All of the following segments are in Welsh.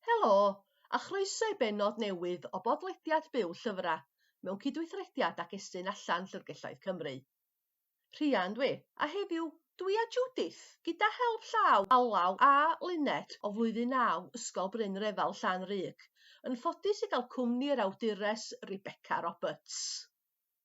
Helo, a chroeso i bennod newydd o bodlediad Byw Llyfrau, mewn cydweithrediad ag Estyn Allan Llyfrgelloedd Cymru. Rhian dwi, a heddiw, dwi a Judith, gyda help llaw Alaw a Lynette o Flwyddyn Naw Ysgol Bryn Refel Llan-rug, yn ffodus i gael cwmni yr awdures Rebecca Roberts.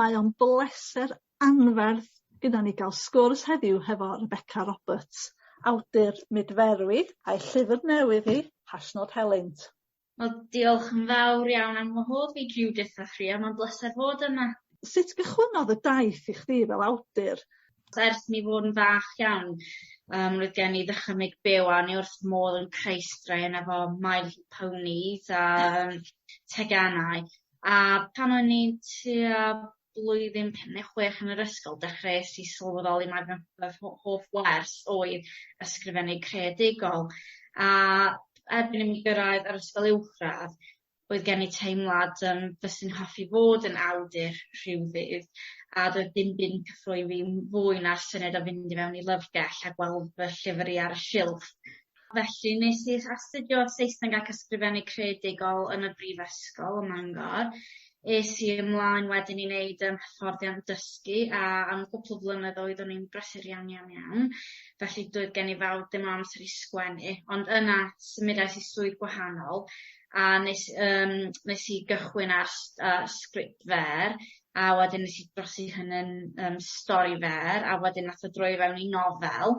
Mae o'n bleser anferth gyda ni ga'l sgwrs heddiw hefo Rebecca Roberts, awdur Mydferwi, a'i llyfr newydd hi, Hashnod Helynt. Wel, diolch yn fawr iawn am wahodd fi, Judith a Rhia, mae'n bleser fod yma. Sut gychwynnodd y daith i chdi fel awdur? Ers i mi fod yn fach iawn yym roedd gen i ddychymyg byw a o'n i wrth fy modd yn creu straeon efo My Little Ponies a yym teganau. a pan o'n i'n tua blwyddyn pum ne' chwech yn yr ysgol dechreues i sylweddoli mai fy fy rho- hoff wers oedd ysgrifennu creadigol a erbyn i mi gyrraedd yr ysgol uwchradd roedd gen i teimlad yym fyswn hoffi fod yn awdur rhyw ddydd a doedd dim byd yn cyffroi fi'n fwy na'r syniad o fynd i mewn i lyfrgell a gweld fy llyfr i ar y silff. Felly nes i astudio Saesneg ac Ysgrifennu Creadigol yn y Brifysgol ym Mangor. Es i ymlaen wedyn i neud yym hyfforddiant dysgu a am gwpwl o flynyddoedd o'n i'n brysur iawn iawn iawn felly doedd gen i fawr ddim o amser i sgwennu ond yna symudais i swydd gwahanol a nes yym nes i gychwyn ar s- yy sgriptfêr a wedyn nes i drosi hyn yn yym stori fer a wedyn nath o droi i fewn i nofel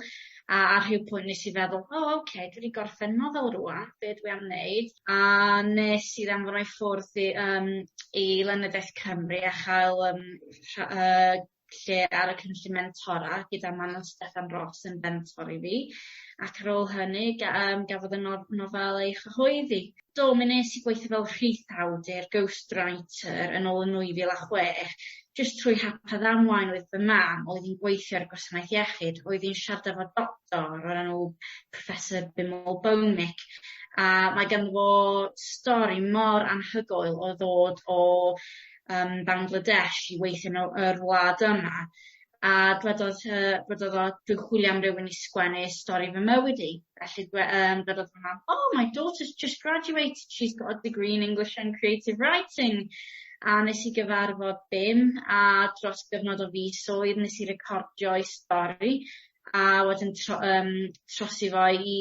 a ar rhyw pwynt nes i feddwl o oce dwi 'di gorffen nofel rŵan be' dwi am neud? A nes i anfon o i ffwrdd i yym i lenyddiaeth Cymru a chael yym rha- yy lle ar y cynllun mentora gyda Manon Steffan Ros yn fentor i fi ac ar ôl hynny ga- yym gafodd y nof- nofel ei chyhoeddi. Do, mi wnes i gweithio fel rhith awdur, ghost writer, yn ôl yn 2006, jyst trwy hap a ddamwain oedd fy mam, oedd hi'n gweithio ar y gwasanaeth iechyd, oedd hi'n siarad efo doctor o'r enw Professor Bimal Bhowmick, a mae ganddo fo stori mor anhygoel o ddod o yym Bangladesh i weithio mewn yr wlad yma, a dwedodd yy dwedodd o dwi'n chwilio am rywun i sgwennu stori fy mywyd i. Felly dwe- yym dwedodd fy mam oh my daughter's just graduated she's got a degree in English and creative writing a nes i gyfarfod Bim a dros gyfnod o fisoedd nes i recordio'i stori a wedyn tro- yym trosi fo i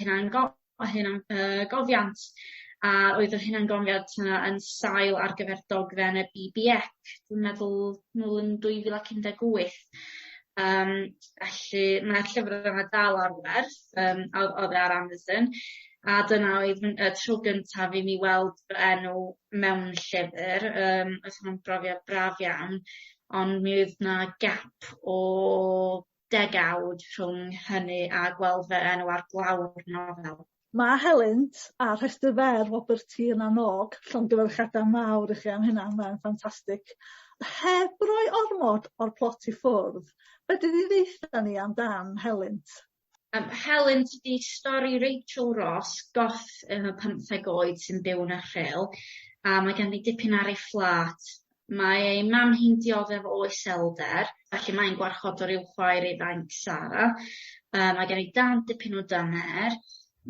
hunango- o hunan yy gofiant a oedd yr hunan gofiant yna yn sail ar gyfer dogfen y Bee Bee Eck dwi'n meddwl nôl yn dwy fil ac un deg wyth yym felly ma'r llyfre yma dal ar werth yym a o'dd o'dd e ar Amazon a dyna oedd fy- y tro gyntaf i mi weld fy enw mewn llyfyr yym o'dd hwnna'n brofiad braf iawn ond mi oedd 'na gap o degawd rhwng hynny a gweld fy enw ar glawr nofel. Mae helynt a rhestr fer Robert T yn annog llongyfarchiadau mawr i chi am hynna, mae'n ffantastig. Heb roi ormod o'r plot i ffwrdd, fedri di ddeutha ni am dan helynt? Yym helynt ydi stori Rachel Ross, goth yn y pymtheg oed sy'n byw yn y Rhyl a mae ganddi dipyn ar ei phlât Mae ei mam hi'n dioddef o iselder, felly mae'n gwarchodwr i'w chwaer ifanc Sara. Yy mae gen ei dad dipyn o dyner.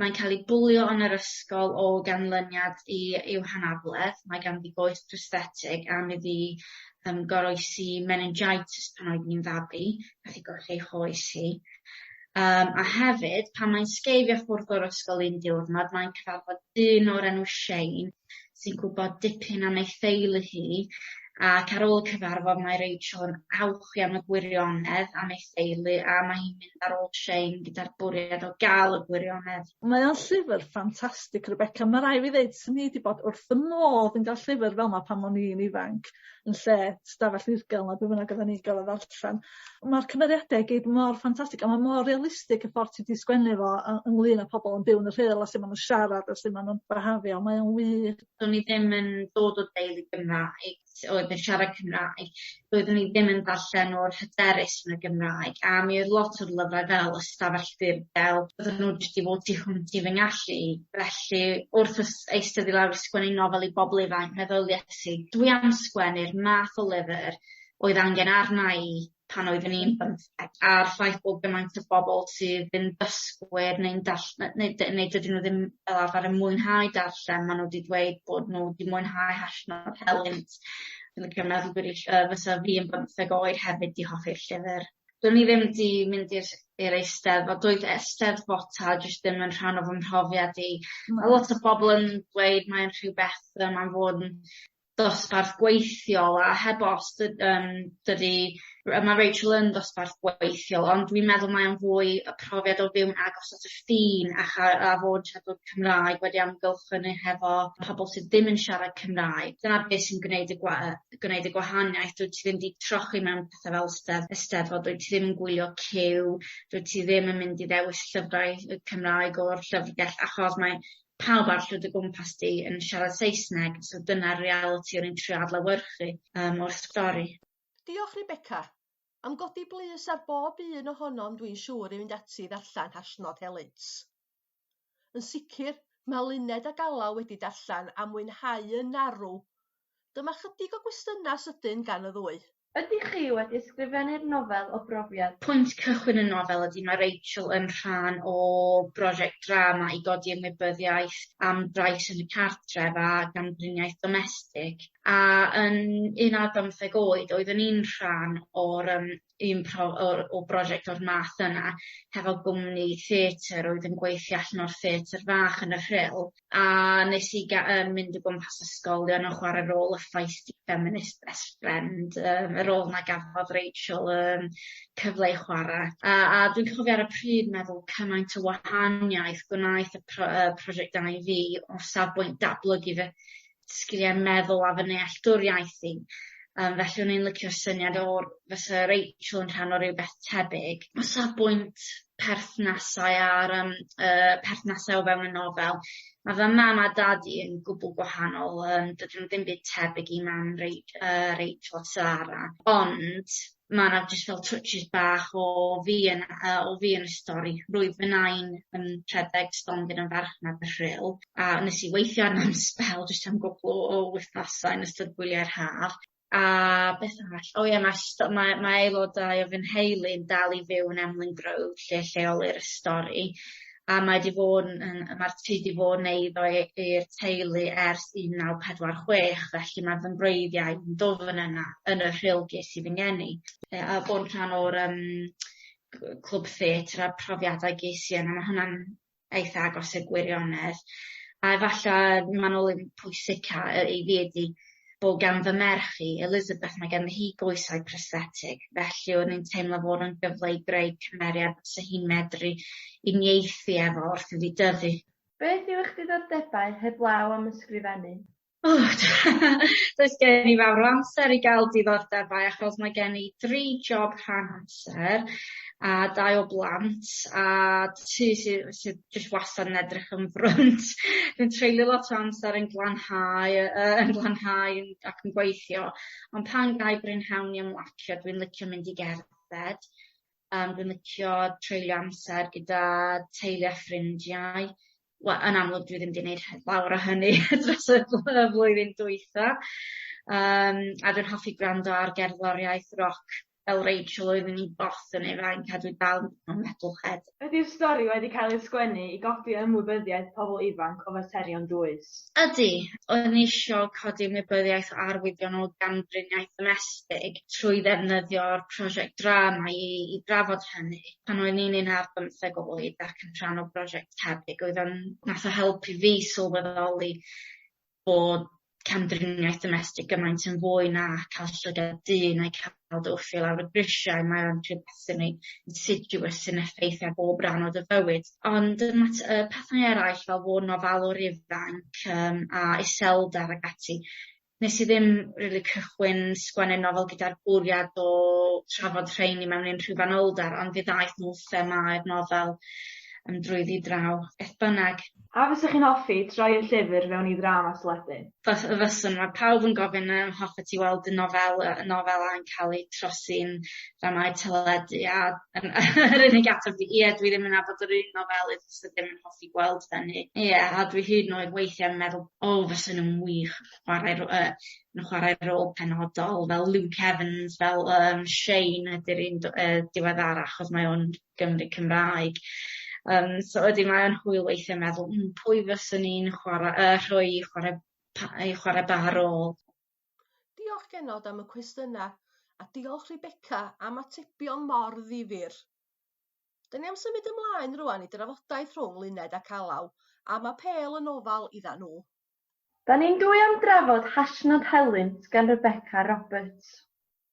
Mae'n cael ei bwlio yn yr ysgol o ganlyniad i i'w hanabledd. Mae ganddi goes prosthetig a mi fu yym goroesi meningitis pan oedd hi'n fabi, nath hi golli ei choes hi. Yym a hefyd pan mae'n sgeifio ffwrdd o'r ysgol un diwrnod mae'n cyfarfod dyn o'r enw Shane sy'n gwbod dipyn am ei theulu hi ac ar ôl cyfarfod mae Rachel'n awch iawn y gwirionedd am ei theulu a ma' hi'n mynd ar ôl Shane gyda'r bwriad o ga'l y gwirionedd. Mae o'n llyfyr ffantastig Rebecca ma' rai' fi ddeud swn i 'di bod wrth fy modd yn ga'l llyfyr fel 'ma pan o'n i'n ifanc yn lle stafell ddirgel ne' be' bynnag oddan ni gorod ddarllan. Ma'r cymeriade i gyd mor ffantastig a ma' mor realistig y ffor ti 'di sgwennu fo yy ynglŷn â pobol yn byw yn y rhyl a su' ma' nw'n siarad a su' ma' nw'n byhafio mae o'n wych. Do'n i ddim yn dod o deulu Gymraeg sy oedd yn siarad Cymraeg doeddwn i ddim yn darllen mor hyderus yn y Gymraeg a mi oedd lot o'r lyfrau fel y stafell ddirgel bydden nhw jyst 'di fod tu hwnt i fy ngallu i felly wrth ys- eistedd i lawr a sgwennu nofel i bobol ifanc meddylies i dwi am sgwennu'r math o lyfyr oedd angen arna i pan oeddwn i'n bymtheg a'r ffaith bod gymaint o bobol sydd yn dysgwyr neu'n dall- ne- neu dy- neu dydyn nw ddim fel arfer yn mwynhau darllen ma' nw 'di dweud bod nw 'di mwynhau hallnod helynt. Dwi'n licio meddwl bod ill- yy fysa fi yn bymtheg oed hefyd 'di hoffi'r llyfyr. Do'n i ddim 'di mynd i'r i'r Eisteddfod doedd y Eisteddfota jyst ddim yn rhan o fy mhrofiad i. Ma' lot o bobol yn dweud mae'n rhywbeth yym am fod yn dosbarth gweithiol a heb os dy- yym dydi r- ma' Rachael yn ddosbarth gweithiol ond dwi'n meddwl mae o'n fwy y profiad o fyw'n agos at y ffin a cha- a fod yn siarad Cymraeg wedi amgylchynu hefo pobol sy ddim yn siarad Cymraeg. Dyna be' sy'n gwneud y gwa- yy gwneud y gwahaniaeth dwyt ti ddim 'di trochi mewn pethe fel Steddfod Eisteddfod dwyt ti ddim yn gwylio cyw dwyt ti ddim yn mynd i ddewis llyfrau yy Cymraeg o'r llyfrgell achos mae pawb arall o dy gwmpas di yn siarad Saesneg so dyna'r realiti o'n i'n trio adlewyrchu yym o'r stori. Diolch Rebecca! Am godi blys ar bob un ohonom dwi'n siŵr i fynd ati i ddarllen Hashnod Helynt. Yn sicr, mae Luned ac Alaw wedi darllen a mwynhau yn arw Dyma chydig o gwestiynau sydyn gan y ddwy. Ydych chi wedi ysgrifennu'r nofel o brofiad? Pwynt cychwyn y nofel ydy mae Rachel yn rhan o brosiect drama i godi ymwybyddiaeth am drais yn y cartref a gamdriniaeth domestig a yn un ar bymtheg oed oeddwn i'n rhan o'r yym un pro- o o brosiect o'r math yna hefo gwmni theatr oedd yn gweithio allan o'r theatr fach yn y Rhyl a nes i ga- yym mynd o gwmpas ysgolion yn chware rôl y feisty feminist best friend yym y rôl 'na gafodd Rachael yym cyfle i chwara a a dwi'n cofio ar y pryd meddwl cymaint o wahaniaeth gwnaeth y pro- yy prosiect 'da i fi o safbwynt datblygu fy sgilie meddwl a fy nealltwriaeth i yym felly o'n i'n licio'r syniad o'r fysa Rachel yn rhan o rywbeth tebyg. O safbwynt perthnasau a'r yym y perthnasau o fewn y nofel ma' fy mam a dad i yn gwbwl gwahanol yym dydyn n'w ddim byd tebyg i mam Rei- yy Rachel a Sara ond ma' 'na jyst fel twtshys bach o fi yn yy o fi yn y stori. Roedd fy Nain yn rhedeg stondin yn farchnad y rhyl a nes i weithio arno am sbel jyst am gwpwl o o wythnose yn ystod gwyliau'r haf a beth arall o ie ma' sto- mae mae aelodau o fy nheulu'n dal i fyw yn Emlyn Grove lle lleolir y stori. a mae 'di fod yn yn yy ma'r tŷ 'di fod 'n eiddo i i'r teulu ers un naw pedwar chwech felly ma' fy mhwreiddiau yn dwfn yna yn y rhyl ges i fy ngeni. Yy a bo' yn rhan o'r yym cw- clwb theatr a profiadau ges i yna ma' hwnna'n eitha agos i'r gwirionedd. A efalla manwl yn pwysica yy i fi ydi bo gan fy merch i, Elizabeth, mae ganddi hi goesau prosthetig, felly o'n i'n teimlo fod o'n gyfle i greu cymeriad fysa hi'n medru uniaethu efo wrth iddi dyfu. Beth yw eich diddordebau heblaw am ysgrifennu? O! Does gen i fawr o amser i gael diddordebau achos mae gen i dri job rhan amser a dau o blant a tŷ sy sy jyst wastad yn edrych yn frwnt. Dwi'n treulio lot o amser yn glanhau yy yy yn glanhau yn ac yn gweithio ond pan gai brynhawn i ymlacio dwi'n licio mynd i gerdded yym dwi'n licio treulio amser gyda teulu a ffrindiau. We- yn amlwg dwi ddim 'di neud he- lawer o hynny dros y bl- y flwyddyn dwytha yym a dwi'n hoffi gwrando ar gerddoriaeth roc. fel Rachel oeddwn i boss yn ei flaen cadw dal mewn metalhead. Ydi'r stori wedi cael ei sgwennu i godi ymwybyddiaeth pobl ifanc o faterion dwys? Ydi, o'n ni isio codi ymwybyddiaeth o arwyddion o gamdriniaeth ddomestig trwy ddefnyddio'r prosiect drama i i drafod hynny. Pan o'n i'n un ar bymtheg oed ac yn rhan o brosiect tebyg oedd o'n nath o helpu fi sylweddoli bod camdriniaeth domestig gymaint yn fwy na ca'l llygad dyn neu ca'l dy wthio lawr y grisiau mae o'n rhywbeth sy'n rei insidious sy'n effeithio ar bob ran o dy fywyd. Ond y mat- yy pethau eraill fel fo' 'n ofalwr ifanc yym a iselder ag ati nes i ddim rili cychwyn sgwennu nofel gyda'r bwriad o trafod rheiny mewn unrhyw fanylder ond fe ddaeth nw'n themâu'r nofel yym drwyddi draw. Beth bynnag A fysa chi'n hoffi troi y llyfr fewn i ddrama teledu? Fys- y fyswn. Mae pawb yn gofyn a hoffet ti weld y nofel yy y nofel a'n cael ei trosi'n ddramâu teledu a yym yr unig ateb fi ie dwi ddim yn nabod yr un nofelydd fysa ddim yn hoffi gweld hynny. Ie a dwi hyd yn oed weithie yn meddwl o fysa nw'n wych chwarae ro- yy yn chwarae rôl penodol fel Luke Evans fel yym Shane ydi'r un do- yy diweddara achos mae o'n Gymry Cymraeg. Yym so ydi mae o'n hwyl weithie meddwl hmm pwy fyswn i'n chwara- yy rhoi i chware pa- yy i chware ba rôl? Diolch genod am y cwestyna a diolch Rebecca am atebion mor ddifyr. 'Dyn ni am symud ymlaen rŵan i drafodaeth rhwng Luned ac Alaw am Apêl yn ofal idda nhw. Da ni'n dwy am drafod Hashnod Helynt gan Rebecca Roberts.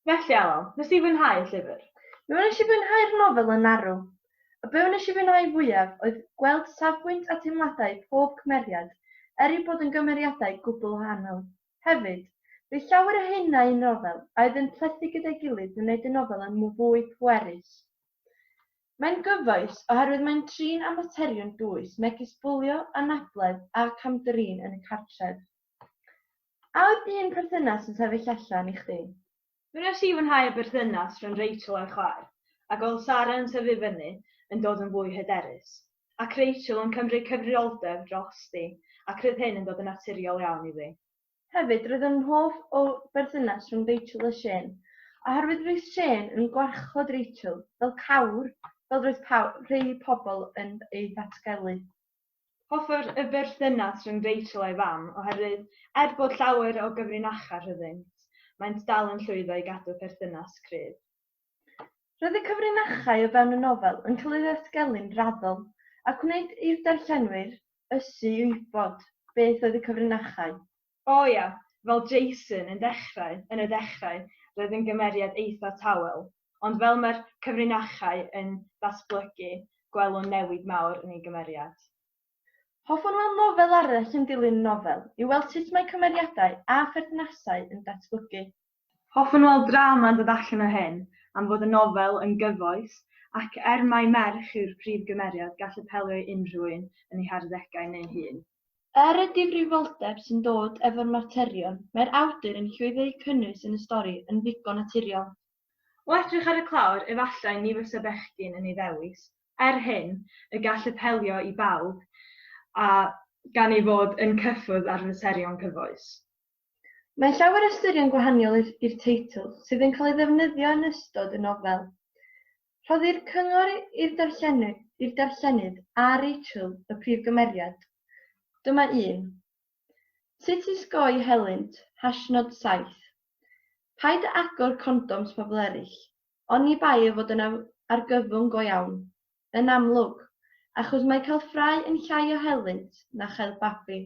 Felly, Alun, wnes di fwynhau y llyfr? Mi wnes i fwynhau'r nofel yn arw. A be wnes i fwynhau fwyaf oedd gweld safbwynt a teimladau pob cymeriad, er eu bod yn gymeriadau gwbl wahanol. Hefyd, bydd llawer o hyn a'u nofel, a oedd yn plethu gyda'i gilydd yn wneud y nofel yn fwy pwerus. Mae'n gyfoes oherwydd mae'n trin â materion dwys megis bwlio, anabledd a cam-drin yn y cartref. A oedd un perthynas yn sefyll allan i chdi? Mi wnes i fwynhau y berthynas rhwng Rachel a'i chwaer, a gweld Sara yn tyfu fyny yn dod yn fwy hyderus, ac Rachel yn cymryd cyfrifoldeb drosti, ac roedd hyn yn dod yn naturiol iawn i fi. Hefyd, roedd yn hoff o berthynas rhwng Rachel a Shane, oherwydd roedd Shane yn gwarchod Rachel fel cawr fel roedd rhai pobl yn ei ddatgelu. Hoffai'r berthynas rhwng Rachel a'i fam oherwydd, er bod llawer o gyfrinachau rhyngddynt, maent dal yn llwyddo i gadw perthynas cryf. Roedd y cyfrinachau o fewn y nofel yn cael eu datgelu'n raddol, a gwnaed i'r darllenwyr ysu i wybod beth oedd y cyfrinachau. O ia, fel Jason yn dechrau, yn y dechrau, roedd yn gymeriad eitha' tawel, ond fel mae'r cyfrinachau yn datblygu, gwelwn newid mawr yn ei gymeriad. Hoffwn weld nofel arall yn dilyn y nofel, i weld sut mae cymeriadau a pherthnasau yn datblygu. Hoffwn weld drama'n dod allan o hyn, am fod y nofel yn gyfoes, ac er mai merch yw'r prif gymeriad, gall apelio i unrhyw un yn ei harddegau neu hŷn. Er y difrifoldeb sy'n dod efo'r materion, mae'r awdur yn llwyddo i'w cynnwys yn y stori yn ddigon naturiol. O edrych ar y clawr, efallai ni fysa bechgyn yn ei ddewis. Er hyn, y gall apelio i bawb a gan ei fod yn cyffwrdd ar faterion cyfoes. Mae llawer o ystyrion gwahaniol i'r teitl sydd yn cael ei ddefnyddio yn ystod y nofel. Rhoddir cyngor i'r darllenydd a Rachel y prif gymeriad. Dyma un. Sut i sgoi helynt, hashnod 7. Paid â agor condoms pobl eraill, oni bai ei fod yn argyfwng go iawn, yn amlwg, achos mae cael ffrae yn llai o helynt na chael babi.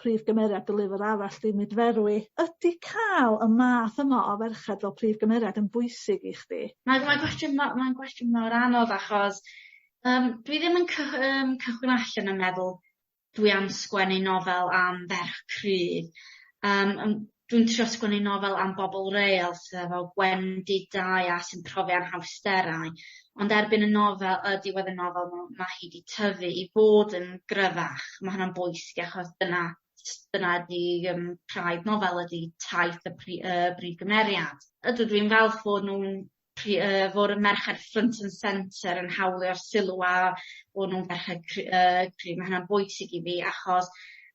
prif gymeriad dy lyfr arall di Nid Ferwi. Ydi ca'l y math yma o ferched fel prif gymeriad yn bwysig i chdi? Mae mae gwestiwn ma' mae'n gwestiwn mor anodd achos yym dwi ddim yn cy- yym cychwyn allan yn meddwl dwi am sgwennu nofel am ferch cryf yym yym dwi'n trio sgwennu nofel am bobol real sy efo gwendidau a sy'n profi anhawsterau ond erbyn y nofel yy diwedd y nofel ma' ma' hi 'di tyfu i fod yn gryfach. Ma' hwnna'n bwysig achos dyna s- dyna ydi yym praidd nofel ydi taith y pri- yy brif gymeriad. Ydw dwi'n falch fod nw'n Chi- yy fod y merched front and centre yn hawlio'r sylw a bo' nw'n ferched cry- yy cry' ma' hynna'n bwysig i fi achos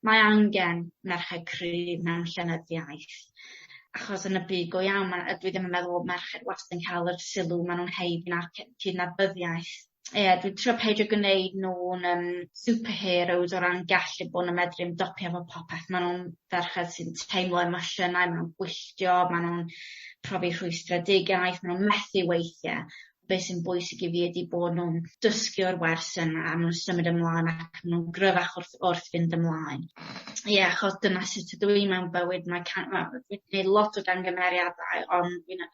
mae angen merched cryf mewn llenyddiaeth achos yn y byd go iawn ma' yy dwi ddim yn meddwl bo' merched wastad yn ca'l yr sylw ma' nw'n eu- na'r cy- cydnabyddiaeth ie dwi trio peidio gneud nw'n yym superheroes o ran gallu bo' n'w medru ymdopi efo popeth ma' nw'n ferched sy'n teimlo emosiynau ma' nw'n gwylltio ma' nw'n profi rhwystredigaeth ma' nw'n methu weithie be' sy'n bwysig i fi ydi bo' nw'n dysgu o'r wers yna a ma' nw'n symud ymlan ac ma' nw'n gryfach wrth wrth fynd ymlaen. Ie achos dyna sut ydw i mewn bywyd mae ca- ma' dwi 'di neud lot o gangymeriadau ond dwi'n yy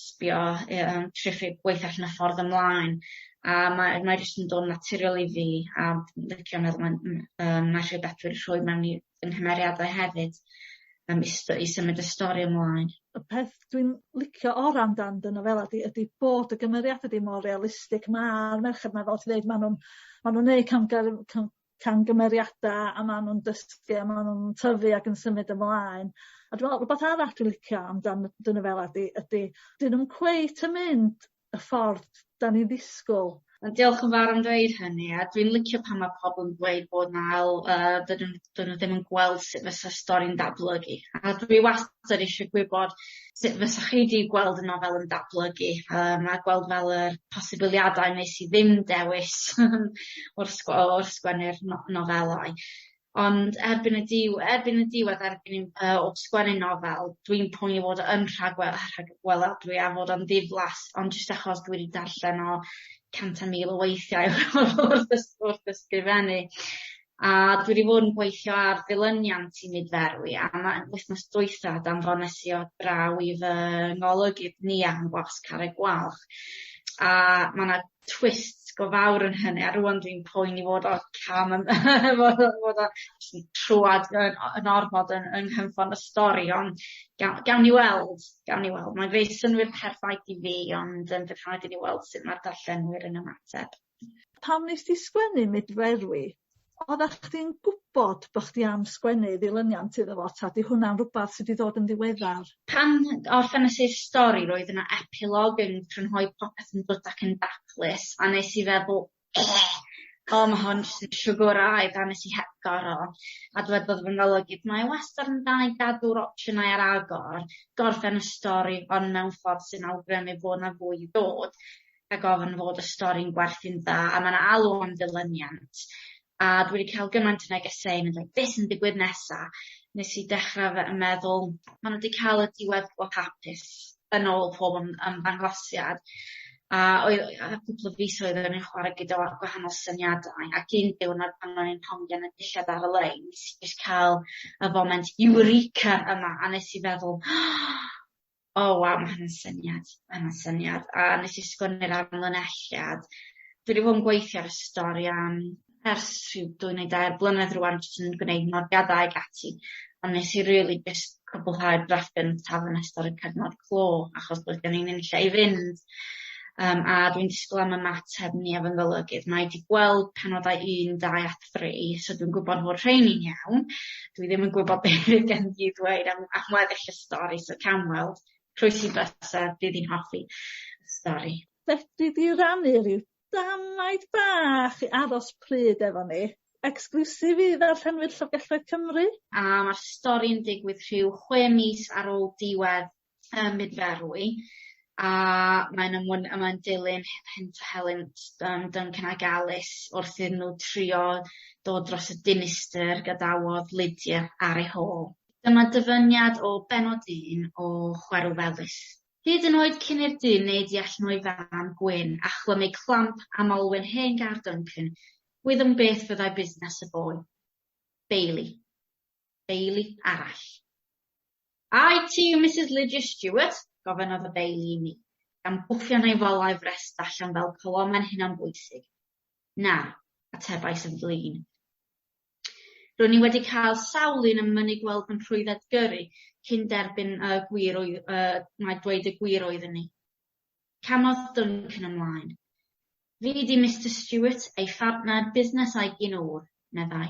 sbio yy yym triphlyg gweitha allan y ffordd ymlaen a mae mae jyst yn dod yn naturiol i fi a dwi'n licio meddwl ma'n m- yym ma' rhyw betha wedi rhwy mewn i fy nghymeriadau hefyd yym i st- i symud y stori ymlaen. Y peth dwi'n licio ora' amdan dy nofela di ydi bod y gymeriada di mor realistig ma'r merched 'ma fel ti ddeud ma' nw'n ma' nw'n neu' camgyrr- cam- camgymeriada a ma' nw'n dysgu a ma' nw'n tyfu ac yn symud ymlaen a dwi me'wl rwbath arall dwi licio amdan y dŷn yfel ydi ydi 'dyn nw'm cweit yn mynd y ffordd 'dan ni ddisgwl. Wel diolch yn fawr am dweud hynny a dwi'n licio pan ma' pobol yn dweud bod 'na ail yy dydyn dydyn nw ddim yn gweld sut fysa stori'n datblygu a dwi wastad 'dan ni isio gwybod sut fysa chi 'di gweld y nofel yn datblygu yym a gweld fel yr posibiliadau nes i ddim dewis o'r sgw- o o'r sgwennu'r no- nofelau ond erbyn y diw- erbyn y diwedd erbyn i m- yy o sgwennu nofel dwi'n poeni fod o yn rhagwe- rhagweladwy a fod o'n ddiflas ond jyst achos dwi 'di darllen o cant a mil o weithiau wrth ys- wrth ysgrifennu. A dwi 'di bod yn gweithio ar ddilyniant i Myd Ferwi am y wythnos dwytha a danfonesi o draw i fy ngolygydd Nia yn Wasg Carreg Gwalch a ma' 'na twist go fawr yn hynny a rŵan dwi'n poeni fod o cam yn fod o fod o jyst yn trwad yn o- yn ormod yn yng nghynffon y stori ond gawn gawn ni weld gawn ni weld mae'n gwneud synnwyr perffaith i fi ond yym bydd rhaid i ni weld sut ma'r darllenwyr yn ymateb. Pam wnest ti sgwennu Mydferwi? Oddach chdi'n gwbod bo' chdi am sgwennu ddilyniant iddo fo ta 'di hwnna'n rwbath sy 'di ddod yn ddiweddar? Pan orffenes i'r stori roedd yna epilogue yn crynhoi popeth yn gwd ac yn daclus a nes i feddwl o ma' hwn jyst yn siwgwraidd a nes i hepgor o a dywedodd fy ngolygydd mae e wastad yn dda i gadw'r opsiynau ar agor, gorffen y stori ond mewn ffordd sy'n awgrymu fo' 'na fwy i ddod. ac ofn fod y stori'n gwerthu'n dda a ma' 'na alw am ddilyniant a dwi 'di ca'l gymaint o negesau yn mynd fel be' sy'n digwydd nesa? Nes i dechra fe- yn meddwl ma' n'w 'di ca'l y diwedd go hapus yn ôl pob ym- ymddangosiad a oedd yy yy cwpwl o fisoedd o'n i'n chware gyda wa- gwahanol syniadau ac un diwrnod pan o'n i'n hongian y dillad ar y lein nes i jyst ca'l y foment eureka yma a nes i feddwl O waw ma' hwnna'n syniad ma' hwnna'n syniad a nes i sgwennu'r amlinelliad dwi 'di fod yn gweithio ar y stori am ers rhyw dwy neu dair blynedd rŵan jyst yn gneud nodiadau ag ati ond nes i rili jyst cwbwlhau'r drafft gyntaf yn ystod y cyfnod clo achos doedd gen i 'im lle i fynd yym a dwi'n disgwl am ymateb Nia fy ngolygydd mae 'di gweld penodau un dau a three so dwi'n gwbod fod rheiny'n iawn. Dwi ddim yn gwbod be' fydd gen i ddweud am am weddill y stori so cawn weld. Croes i byse bydd 'i'n hoffi y stori. Fedri di rannu ryw damaid bach i aros pryd efo ni? Exclusive i ddarllenwyr Llyfrgelloedd Cymru. A ma'r stori'n digwydd rhyw chwe mis ar ôl diwedd Yym nid ferw i. A mae'n ymwn- a mae'n dilyn he- hynt a helynt yym Duncan ag Alys wrth iddyn nhw trio dod dros y dinistr gadawodd Lydia ar ei hôl. Dyma dyfyniad o bennod un o Chwerw Felys. Hyd yn oed cyn i'r dyn wneud i allan o'i fan gwyn a chlymu clamp am olwyn hen gar Duncan, gwyddom beth fyddai busnes y boi. Bailey. deulu arall. A wyt ti yw Misus Lydia Stuart? gofynnodd y deulu i mi, gan bwffio neu folau frest allan fel colomau'n hunanbwysig. Na, atebais yn flin. Ro'n i wedi cael sawl un yn mynnu gweld fy nhrwydded gyrru cyn derbyn y gwir oedd, uh, mae dweud y gwir oeddwn i. Camodd Duncan ymlaen. Fi 'di Mister Stewart, ei phartner busnes a'i gyn-ŵr, meddai.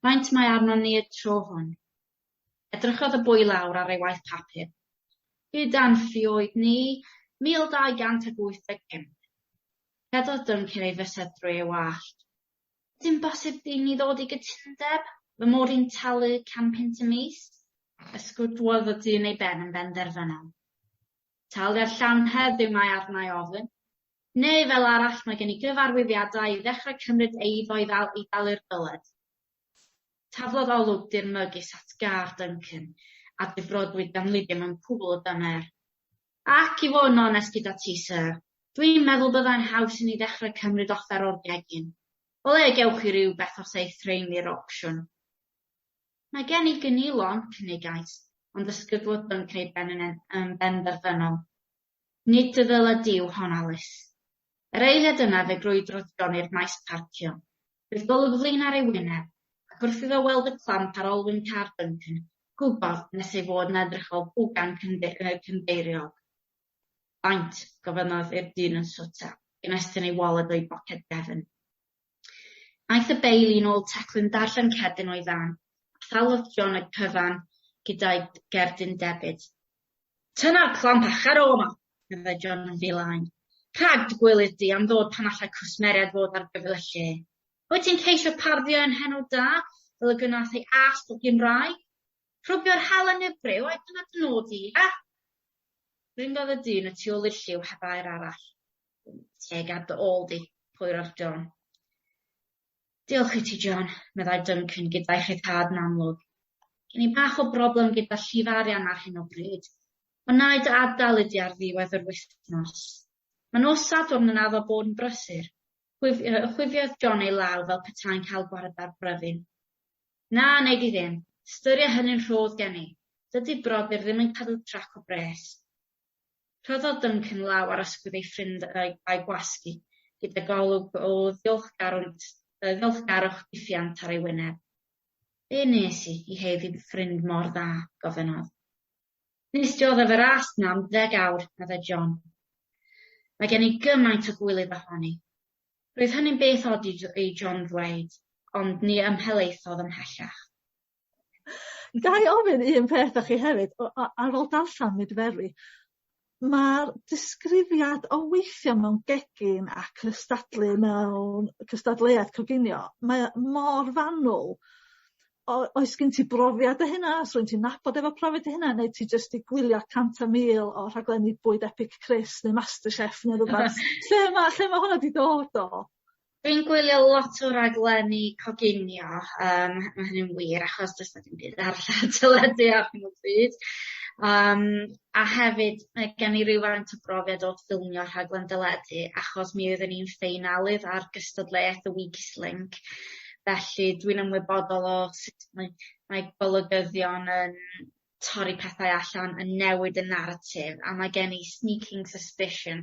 Faint mae arnon ni y tro hwn? Edrychodd y boi lawr ar ei waith papur. Gyda'n ffioedd ni, 1,285. Cerddodd Duncan ei fysedd drwy ei wallt. Dim bosib i ni ddod i gytundeb? Fy mod i'n talu can punt y mis? Ysgwydwodd y dyn ei ben yn benderfynol. Taliad llawn heddiw mae arna i ofyn. Neu fel arall mae gen i gyfarwyddiadau i ddechrau cymryd eiddo i ddalu'r dyled. Taflodd olwg dirmygus at gar Duncan a difrodwyd gan Lydia mewn cwbl o dymer. Ac i fod yn onest gyda ti, Syr, dwi'n meddwl byddai'n haws i ni ddechrau cymryd offer o'r gegin. O le gewch chi rywbeth os ei threini'r opsiwn? Mae gen i gynilon, cynigais, ond ddysgydwodd bync ei ben yn benderfynol. Nid dy ddyled di yw hon, Alis. Yr eiliad yna fe grwydrodd John i'r maes parcio. Bydd golygflaen ar ei wyneb, ac wrth iddo weld y clamp ar olwyn car Duncan, gwybod nes ei fod yn edrych fel pwgan cynddeiriog. Faint? gofynnodd i'r dyn yn swt a gymestyn ei waled o'i boced gefn. Aeth y beil un ôl teclyn darllen cerdyn o'i fan, a thalodd John y cyfan gyda'i gerdyn debyd. Tyna'r clamp a charo yma! meddai John yn ddilyn. Rhag dy gwilydd di am ddod pan allai cwsmeriaid fod ar gyfer y lle. Wyt ti'n ceisio parddio ein henw da, fel y gwnaeth ei ast fy Gymraeg? Rhwbio'r hel a nyfryw, ai dyna dy nod di, he? Ryngodd y dyn y tu ôl i'r lliw heb air arall. Teg ar dy ôl di, Pwyr ar John. Diolch i ti, John, meddai Duncan gyda'i rhyddhad yn amlwg. Gen i bach o broblem gyda llif arian ar hyn o bryd. Ond na i dy adael i di ar ddiwedd yr wythnos. Mae nos Sadwrn yn addo bod yn brysur. Chwif, uh, chwifiodd John ei law fel petai'n cael gwared ar bryfyn. Na, neu di ddim. Styria hynny'n rhodd gen i. Dydy brodyr ddim yn cadw trac o bres. Rhoddodd Duncan law ar ysgwydd ei ffrind a'i gwasgu gyda golwg o ddiolchgarwch difiant ar ei wyneb. Be wnes i i haeddu ffrind mor dda? gofynnodd. Wnes di oddef y ras 'na am ddeg awr, meddai John. Mae gen i gymaint o gwilydd ohoni. Roedd hynny'n beth od i John ddweud, ond ni ymhelaethodd ymhellach. Ga i ofyn un peth o chi hefyd o- a- ar ôl darllan Mydferwi ma'r disgrifiad o weithio mewn gegin a cystadlu mewn cystadleuaeth coginio mae o mor fanwl o- oes gen ti brofiad o hynna os rwy'n ti'n nabod efo profiad o hynna neu ti jyst 'di gwylio cant a mil o rhaglenni bwyd epicris neu MasterChef ne' rwbath lle ma' lle ma' honna 'di dod o? Dwi'n gwylio lot o raglenni coginio yym ma' hynny'n wir achos does 'na dim byd arall ar y teledu ar hyn o bryd yym a hefyd mae gen i rywfaint o brofiad o ffilmio rhaglen deledu achos mi oeddwn i'n ffeinalydd ar gystadleuaeth y Weakest Link felly dwi'n ymwybodol o sut mae mae golygyddion yn torri pethau allan yn newid y naratif a mae gen i sneaking suspicion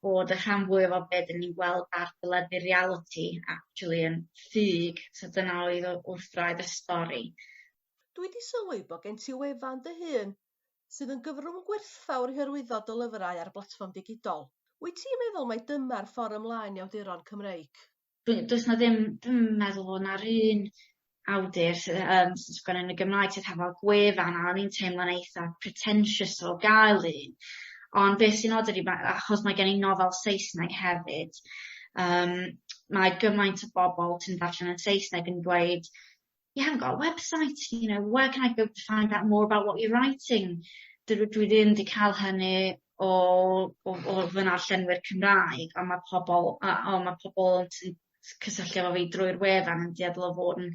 bod y rhan fwyaf o be' 'dyn ni'n gweld ar deledu realiti actually yn ffug so dyna oedd o- wrth wraidd y stori. Dwi 'di sylwi bo' gen ti wefan dy hun sydd yn gyfrwng gwerthfawr i hyrwyddo dy lyfrau ar blatfform digidol. Wyt ti'n meddwl mai dyma'r ffor' ymlaen i awduron Cymreig? dwi does 'na ddim dwi'm yn meddwl bo' 'na'r un awdur sy yym sy'n sgwennu yn y Gymraeg sydd hefo gwefan a o'n i'n teimlo'n eitha pretentious o gael un ond be' sy'n od ydi ma' achos mae gen i nofel Saesneg hefyd yym mae gymaint o bobol sy'n ddarllen yn Saesneg yn dweud you haven't got a website, you know, where can I go to find out more about what you're writing? Dydw i dwi ddim 'di ca'l hynny o o o fy narllenwyr Cymraeg on' ma' pobol a on' ma' pobol yn t- s- cysylltu efo fi drwy'r wefan yn dueddol o fod yn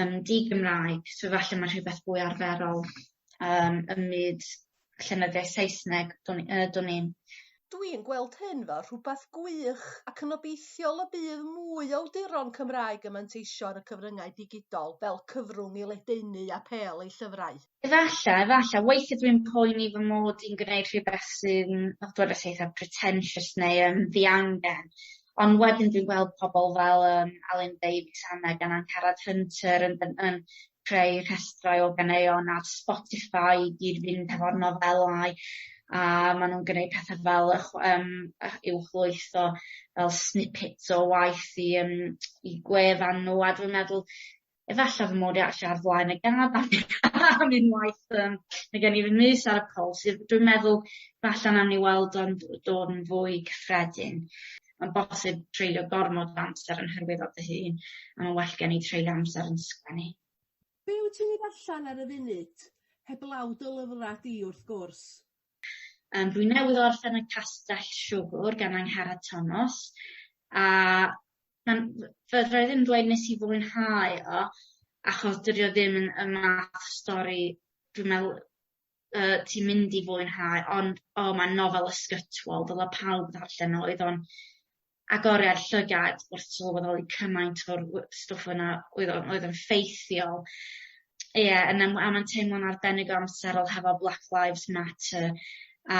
yn di-Gymraeg so falle ma' rhwbeth fwy arferol yym ym myd llenyddiaeth Saesneg dwn i yy dwn i'n Dw i'n gweld hyn fel rhywbeth gwych ac yn obeithiol y bydd mwy o awduron Cymraeg yn manteisio ar y cyfryngau digidol fel cyfrwng i ledaenu a pêl eu llyfrau. Efalla, efalla. Weithie dw i'n poeni fy mod i'n gwneud rhywbeth sy'n, fel dwedais i, eitha pretentious neu yn ddiangen. Ond wedyn dwi'n gweld pobl fel yym Alun Davies, Anna gan Angharad Hunter yn yn creu rhestrau o ganeuon ar Spotify i gyd fynd hefo'r nofelau a ma' nw'n gneud pethe fel y chw- yym ych- uwchlwytho fel snippets o waith i yym i gwefan n'w a dwi'n meddwl efalla fy mod i actually ar flaen y gad am am unwaith yym ma' gen i fy mys ar y pwls yy dwi'n meddwl falla nawn ni weld o'n d- dod yn fwy cyffredin. ma'n bosib treulio gormod o amser yn hyrwyddo dy hun a ma'n well gen i treulio amser yn sgwennu. Be' wyt ti'n ei ddarllen ar y funud? Heblaw dy lyfra' di wrth gwrs. Yym dwi newydd orffen y Castell Siwgwr gan Angharad Tomos a ma'n f- fedrai ddim dweud nes i fwynhau o achos dydi o ddim yn y math stori dwi me'wl yy ti'n mynd i fwynhau ond o ma'n nofel ysgytwol dyle pawb ddarllen o oedd o'n agoriad llygad wrth sylweddoli cymaint o'r w- stwff yna oedd o'n oedd o'n ffeithiol. Ie yn am- a ma'n teimlo'n arbennig o amserol hefo Black Lives Matter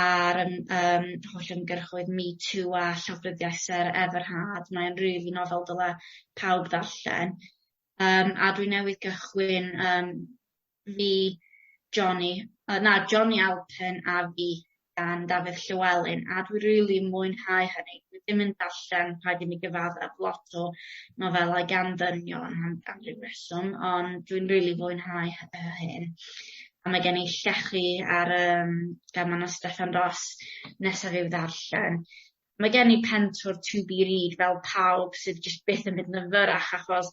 a'r yym yym holl ymgyrchoedd Me Too a llawfryddiaeth Sarah Everhard mae'n rili nofel dyle pawb ddarllen. Yym a dwi newydd gychwyn yym fi, Jonny, yy na Jonny Alpen a fi gan Dafydd Llewelyn a dwi rili mwynhau hynny. Dwi ddim yn darllen rhaid i mi gyfaddef lot o nofelau gan ddynion am am ryw reswm ond dwi'n rili fwynhau hy- yy hyn. A mae gen i llechi ar yym gan ma' 'na Steffan Ros nesaf i'w ddarllen. Mae gen i Pentour to be read fel pawb sydd jyst byth yn mynd yn fyrrach achos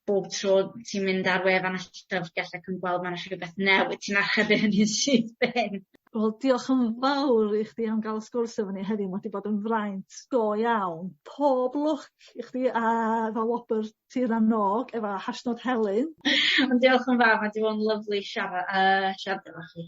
bob tro ti'n mynd ar wefan y llyfrgell ac yn gweld ma' 'na rhwbeth newydd ti'n archebu hynny'n syth bin. Wel diolch yn fawr i chdi am ga'l y sgwrs efo ni heddiw ma' 'di bod yn fraint go iawn. Pob lwc i chdi a efo wobr tir a n-og efo Hashnod Helynt. Diolch yn fawr ma' 'di bod yn lyfli siara- yy siarad efo chi.